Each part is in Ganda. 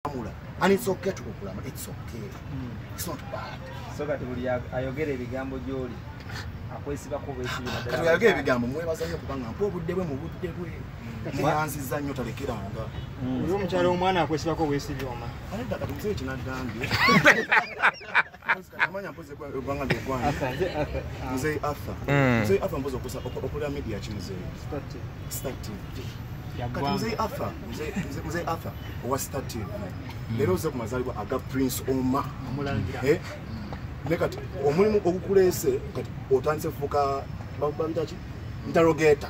kukulamula and it's okay to kukulamula it's okay mm. it's not bad so kati buli ayogera ebigambo gyoli akwesibako bwesibakatuyagala ebigambo mwebaza nnyo kubanga mpa obudde bwe mu budde bwe mweyanziza nnyo talekeranga mm. oyo omukyalo omwana akwesibako bwesibyoma kati musee kinagambye amanya mpozi egwanga nti egwanga muzeyi arthur muzeyi arthur mpozi okusa okulira media ki muzeyi star tv kati muzeyi arthur muzeyi arthur owa star tv leero oze ku mazalibwa aga prince oma eh? ne kati omulimu ogukuleese kati otandise fuuka babitaki ntarogeeta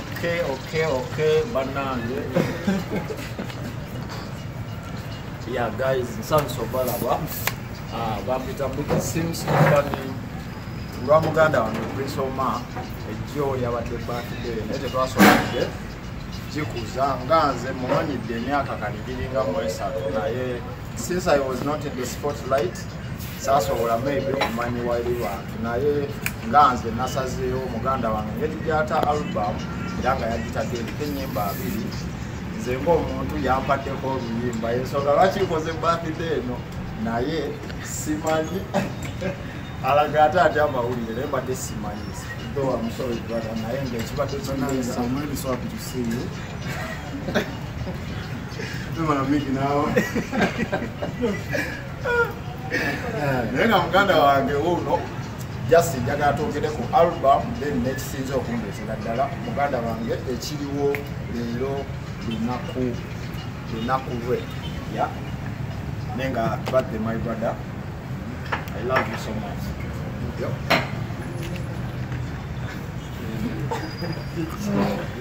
Okay, okay, okay, banange. yeah, guys, nsanyusa obalaba. Ah, bampita Mbuga Sims Company. Lwa muganda wange Prince Omar ejjo yabadde birthday naye tetwasobodde kikuza nga nze mumanyidde emyaka kanigiringa mwesatu naye Since I was not in the spotlight, saasobola maybe okumanya wali bantu naye nga nze nasazeewo muganda wange ngeri gyata album era nga yagitadde eriko ennyimba abiri nze ngaomuntu yampaddeko oluyimba ensonga lwaki nkoze bathide eno naye simanyi alaga ate ati amawulire naye mbadde simanyi though I'm sorry brother naye nga ekibadde kyonaa I'm really sorry to see you naye nga muganda wange wuuno just njagala twogere ku album then nekisinza okundeetera ddala muganda wange ekiriwo leero lunaku lunaku lwe ya naye nga badde my brother i love you so much yep.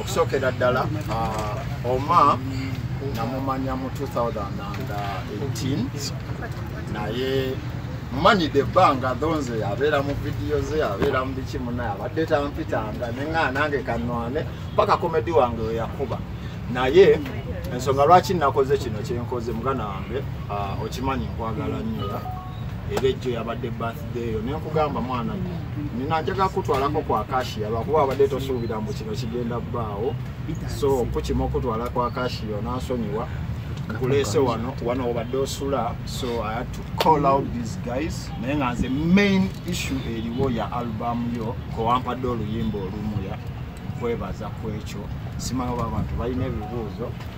okusookera ddala uh, oma namumanya mu 2018 naye mumanyidde ebbanga dhonze abeera mu vidiyo ze abeera mu biki munaye abadde tampitanga nengaa nange kanwane paka komedi wange weyakuba naye ensonga lwaki nakoze kino kyenkoze muganda wange uh, okimanyi nkwagala nnyola era ejjo yabadde birthday eyo naye nkugamba mwana nina njaga kutwalako ku akashiya lwakuba abadde tosuubira mbu kino kigenda bbaawo so kukima okutwala ku akashiya onansonyiwa nkuleese wano wano obadde osula so i had to call out these guys naye nga nze main issue eriwo ya album yo kowampadde oluyimba olumuya kwebaza kwekyo simanyi oba abantu balina ebibuuzo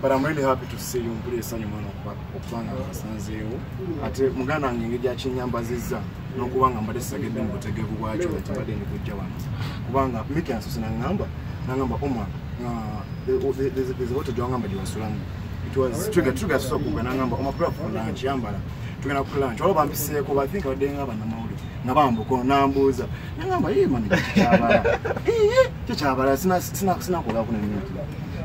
but I'm really happy to see you mpulira essanyu mwana okuba nga nsanzeewo ate muganda wange engeri gyakinyambazizza n'okuba nga mbadde sisagedde mu butegevu bwakyo nti mbadde ndi kujja wano kubanga miki ansose nangamba nangamba oma eziboto gyewangamba gyewasulamu tugasusakuga nangamba oma kula kufuna nkiyambala tugenda kukula nti waliwo bampiseeko bathink abadde nga banamawulire nga bambuko nambuuza nengamba ye mani kyekyabala kyekyabala sinakola kuna mintu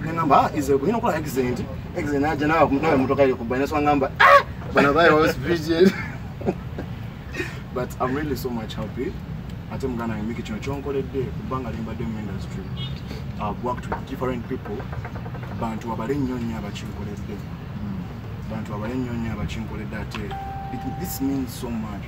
nengamba ah, ize kunyina okola exent exent naja nawe nawe mutoka yo kubaina so ngamba ah, bana baye was virgin but i'm really so much happy ate muganda nge miki kino kyonkoledde kubanga limbadde mu industry i've worked with different people bantu abale nnyo nnyo abakinkoledde hmm. bantu abale nnyo nnyo abakinkoledde ate this means so much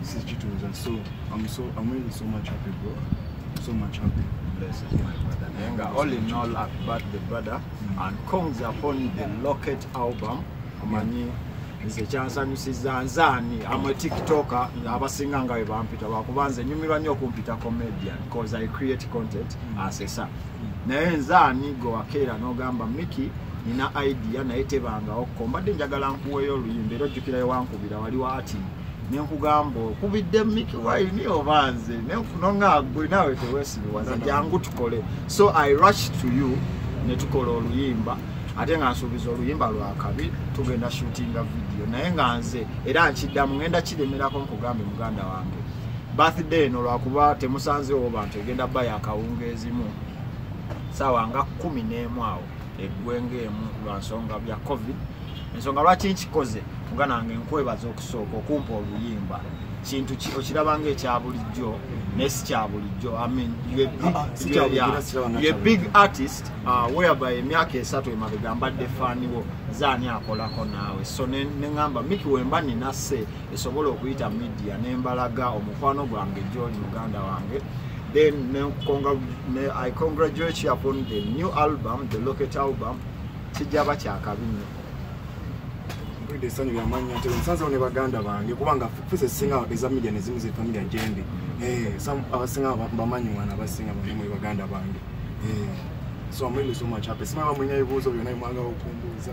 This is Chituza. So I'm so I'm really so much happy, bro. So much happy. Blessed, my brother. Nenga, all in all, happy birthday, brother. Mm. And comes upon the Locket album. Amanyi, nze kyansanyusiza nze ani am a tiktoker abasinga nga webampita lwakuba nze nyumirwa nnyo okumpita comedian bcause i create content mm. asesa mm. naye nze ani gwe wakeera n'ogamba miki nina idea naye tebangawo ko mbadde njagala nkuweeyo oluyimba era ojjukirayo wankubira wali wa atin nenkugamba okubidde miki waini oba nze nonagwe nawe tewesiriwaza jangu tukole so i rush to you netukola oluyimba ate nga nsuubiza oluyimba lwakabi tugenda shootinga vidiyo naye nga nze era nkiddamu ngenda kiremerako nkugambe muganda wange birthday eno lwakuba temusanzeewo bantu egenda ba yakawunga ezimu saawa nga kumi n'emu awo eggwenga emu lwa nsonga bya covid ensonga lwaki nkikoze mugana wange nkwebaza okusooka okumpa oluyimba kintu okiraba nga ekya bulijjo naye si kya bulijjo ye big artist uh, whereby emyaka esatu emabega mbadde faaniwo zaani akolako naawe so neŋamba miki wemba ninase esobola okuyita media nembalaga omukwano gwange gyoli muganda wange then ne, congra, ne, i congratulate you upon the new album the locket album kijaba kyakabi nyo mpulidde esanyu lyamanya nti nsanzewo ne baganda bange kubanga fuse singa eza media nezimu ze familia gyendi eh, abasinga bamanyi mwana abasinga bamwe baganda bange eh, so amwende so much happy simaba mwenye ebibuuzo byona emwanga okumbuuza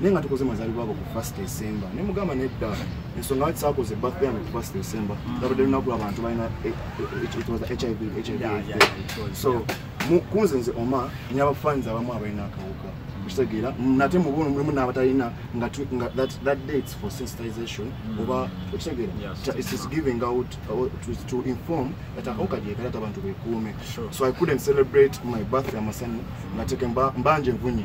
naye nga tukoze mazalibwa ago ku first december ne mugamba nedda ensonga lwaki saakoze birthday yange ku first december mm. labadde lunaku abantu balina eh, eh, eh, hiv hiv so kunze nze oma nyaba fans abamu abalina akawuka kitegeera nate mubuno mulimu n'abatalina nga that dates for sensitization mm. oba okitegeera itis giving out uh, to inform that akawuka gyekalata abantu bekuume so i couldn't celebrate my birthday amasanyu nga teke mbanje nvunye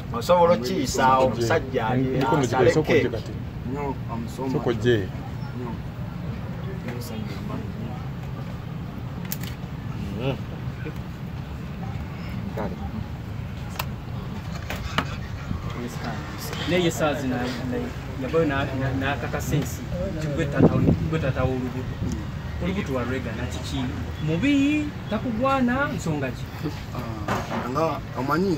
osobola okukiyisaawo omusajja aleke naye saazi yabayo nakakasa ensi tigwetatawo olubuto olubuto walwegana kiki mubi takugwana nsonga ki ah, nga omanyi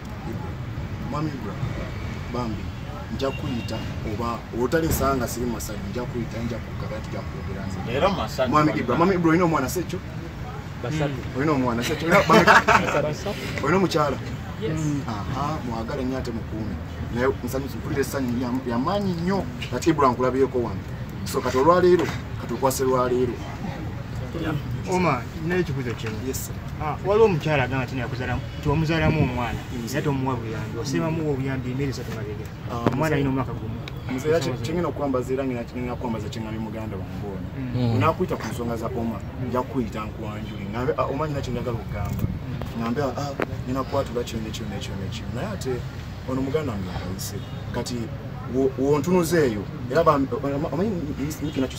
mwami ibra bambi nja kuyita oba otalesanga siri masaji nja kuyita nja kugaba tuja kwogera nze era masaji mwami ibra mwami ibra oyina omwana sekyo basatu hmm. oyina omwana sekyo oyina omukyala hmm. aha mwagale nyo ate mukuume naye nsanyusi mpulira essanyu yamaanyi nnyo ati ibra nkulabyeko wano so kati olwaleero kati okwase lwaleero oma nina ekibuzo kimu ah, waliwo omukyala agamba ti nakuzalamu ti omuzalamu omwana era tomuwa buyambi osebamuwa obuyambi emere esatu mabega ah, omwana alina omwaka gumu nzera kyengenda okukwambaza era ngena kinengenda kukwambaza kyeŋamye muganda wange ono mm. nakuyita ku nsonga za oma nja kukuyita nkuwanjuli ngambe ah, oma nyina kyenjagala okugamba ngambe ah, nyina kukwatula kino nekino nekino nekino naye ate ono muganda wange akayise kati wontunuza eyo era omanyi kinakyo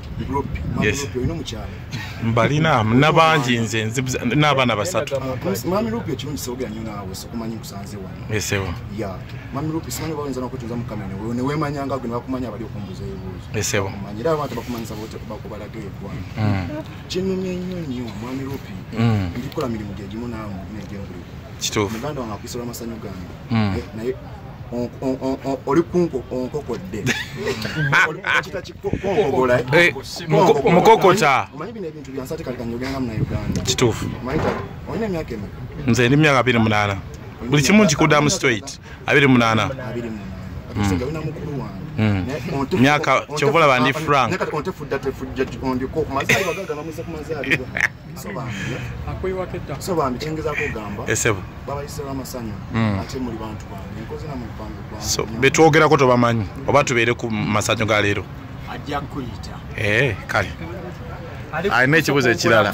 mbalina nabangi nze n'abaana basatu kinumye nnyo nnyo mwami lupi ndikola mirimu gyegimu naamu negyenguliro kituufu muganda wange akuisola amasanyu gange naye oli kunko onkokodde Eh, mukokota kituufu nze ndi myaka abiri munaana buli kimu nkikudamu straight abiri munaana hmm. hmm. myaka kyovolaba ndi frank betwogerako tobamanyi oba tubeere ku masanyu ga leero eh, kale alina ekibuzo ekirala